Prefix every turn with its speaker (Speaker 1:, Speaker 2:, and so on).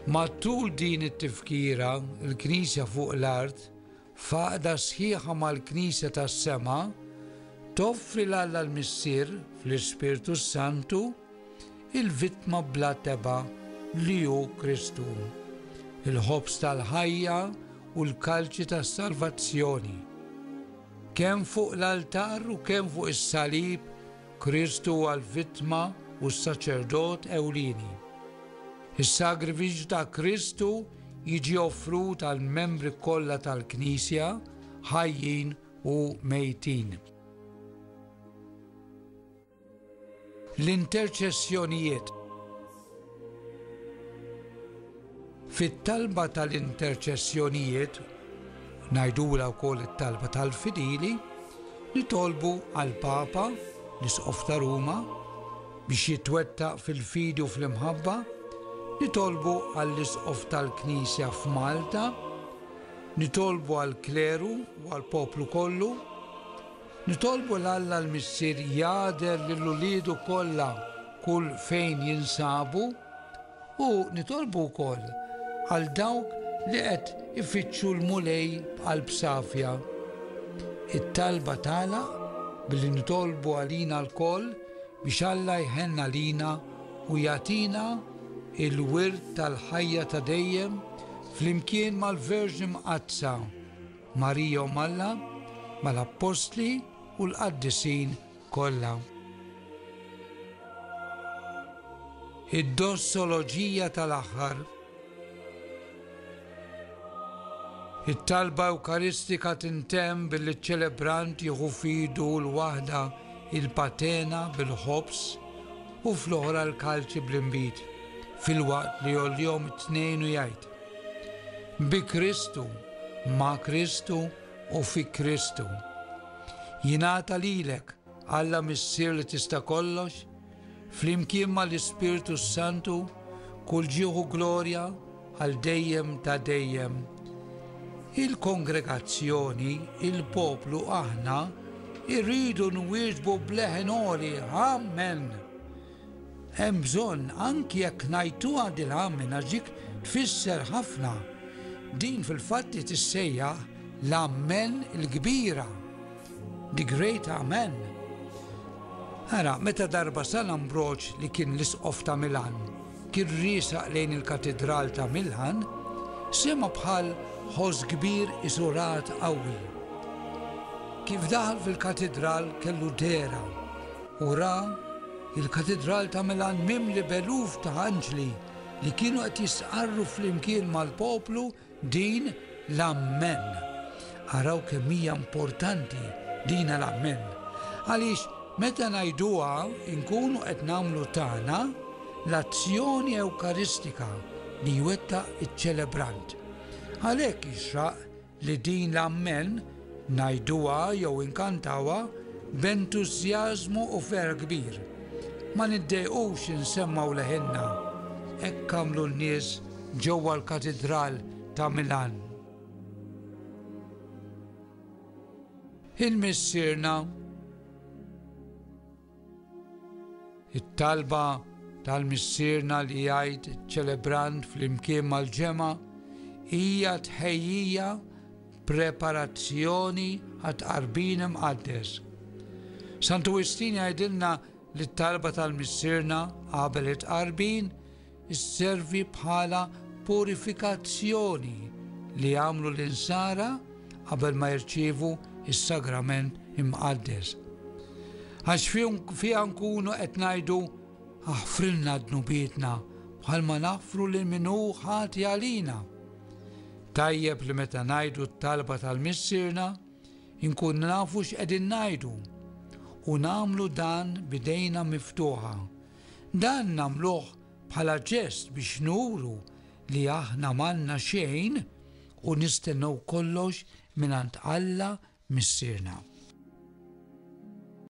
Speaker 1: Matul din it-tifkira, il-Knisja fuq l-art, faqda sħiħa mal-Knisja tas-sema, toffri l alla l-Missier fl-Ispirtu s-Santu il-vittma bla teba li hu Kristu, il-ħobż tal-ħajja u l-kalċi tas-salvazzjoni. Kemm fuq l-altar u kemm fuq is-salib, Kristu huwa l-vittma u s-saċerdot ewlieni. Is-sagrifiċċju ta' Kristu jiġi offrut għall-membri kollha tal-Knisja, ħajjin u mejtin. L-interċessjonijiet Fit-talba tal-interċessjonijiet, ngħidulha wkoll it-talba tal-fidili, nitolbu għall-Papa, l-Isqof ta' Ruma, biex jitwettaq fil-fidi u fl-imħabba, nitolbu għall-Isqof tal-Knisja f'Malta, nitolbu għall-kleru u għall-poplu kollu, Nitolbu 'l Alla l-Missier jagħder lil uliedu kollha kull fejn jinsabu u nitolbu wkoll għal dawk li qed ifittxu l-Mulej b'qalb safja. It-talba tagħlaq billi nitolbu għalina lkoll biex Alla jħenn għalina u jagħtina l-wirt tal-ħajja ta' dejjem flimkien mal-Verġni Mqaddsa. Marija Omm Alla, mal-Appostli u l-Qaddisin kollha. Id-Dossoloġija tal-Aħħar It-talba Ewkaristika tintemm billi ċ-ċelebrant jieħu f'idu l-waħda il-patena bil-ħobż u fl-oħra l-kalċi bl-inbid, filwaqt li jgħollihom it-tnejn u jgħid, Bi Kristu, ma' Kristu u fi Kristu. Jingħata lilek, Alla Missier li tista' kollox, flimkien mal-Ispirtu s-Santu, kull ġieħ u glorja għal dejjem ta' dejjem. Il-kongregazzjoni, il-poplu aħna irridu nwieġbu b'leħen għoli, Amen! Hemm bżonn anki jekk ngħajtuha dirham minn għax dik tfisser ħafna. Din fil-fatt hi tissejjaħ l-Amen il-kbira, the great Amen. Ara, meta darba San Ambroġ li kien l-Isqof ta' Milan kien riesaq lejn il-Katidral ta' Milan, sema' bħal ħoss kbir isurat qawwi. Kif daħal fil-Katidral kellu dehra Ora, il-Katidral ta' Milan mimli b'eluf ta' anġli li kienu qed jistqarru flimkien mal-poplu din l-Amen. Araw kemm hija importanti din l-Amen. Għaliex meta ngħiduha nkunu qed nagħmlu tagħna l-azzjoni ewkaristika li jwettaq iċ-ċelebrant. Għalhekk jixraq li din l-ammen, ngħiduha jew inkantawha b'entużjażmu u ferħ kbir. Ma niddejqux insemmgħu leħinna, hekk għamlu n-nies ġewwa l-Katidral ta' Milan. Il-Missierna. It-talba tal-Missierna li jgħid iċ-ċelebrant flimkien mal-ġemgħa hija tħejjija preparazzjoni għat-Tqarbin Imqaddes. Santu Wistin jgħidilna li t-talba tal-Missierna qabel it-Tqarbin Isservi bħala purifikazzjoni li jagħmlu l-insara qabel ma jirċievu s-Sagrament Imqaddes. Għax fiha nkunu qed ngħidu aħfrilna dnubietna bħalma naħfru lil min hu ħati għalina. Tajjeb li meta ngħidu t-talba tal-Missierna, inkun nafu x'qegħdin ngħidu u nagħmlu dan bidejna miftuħa Dan nagħmluh bħala ġest biex nuru li aħna m'għandna xejn u nistennew kollox mingħand Alla Missierna.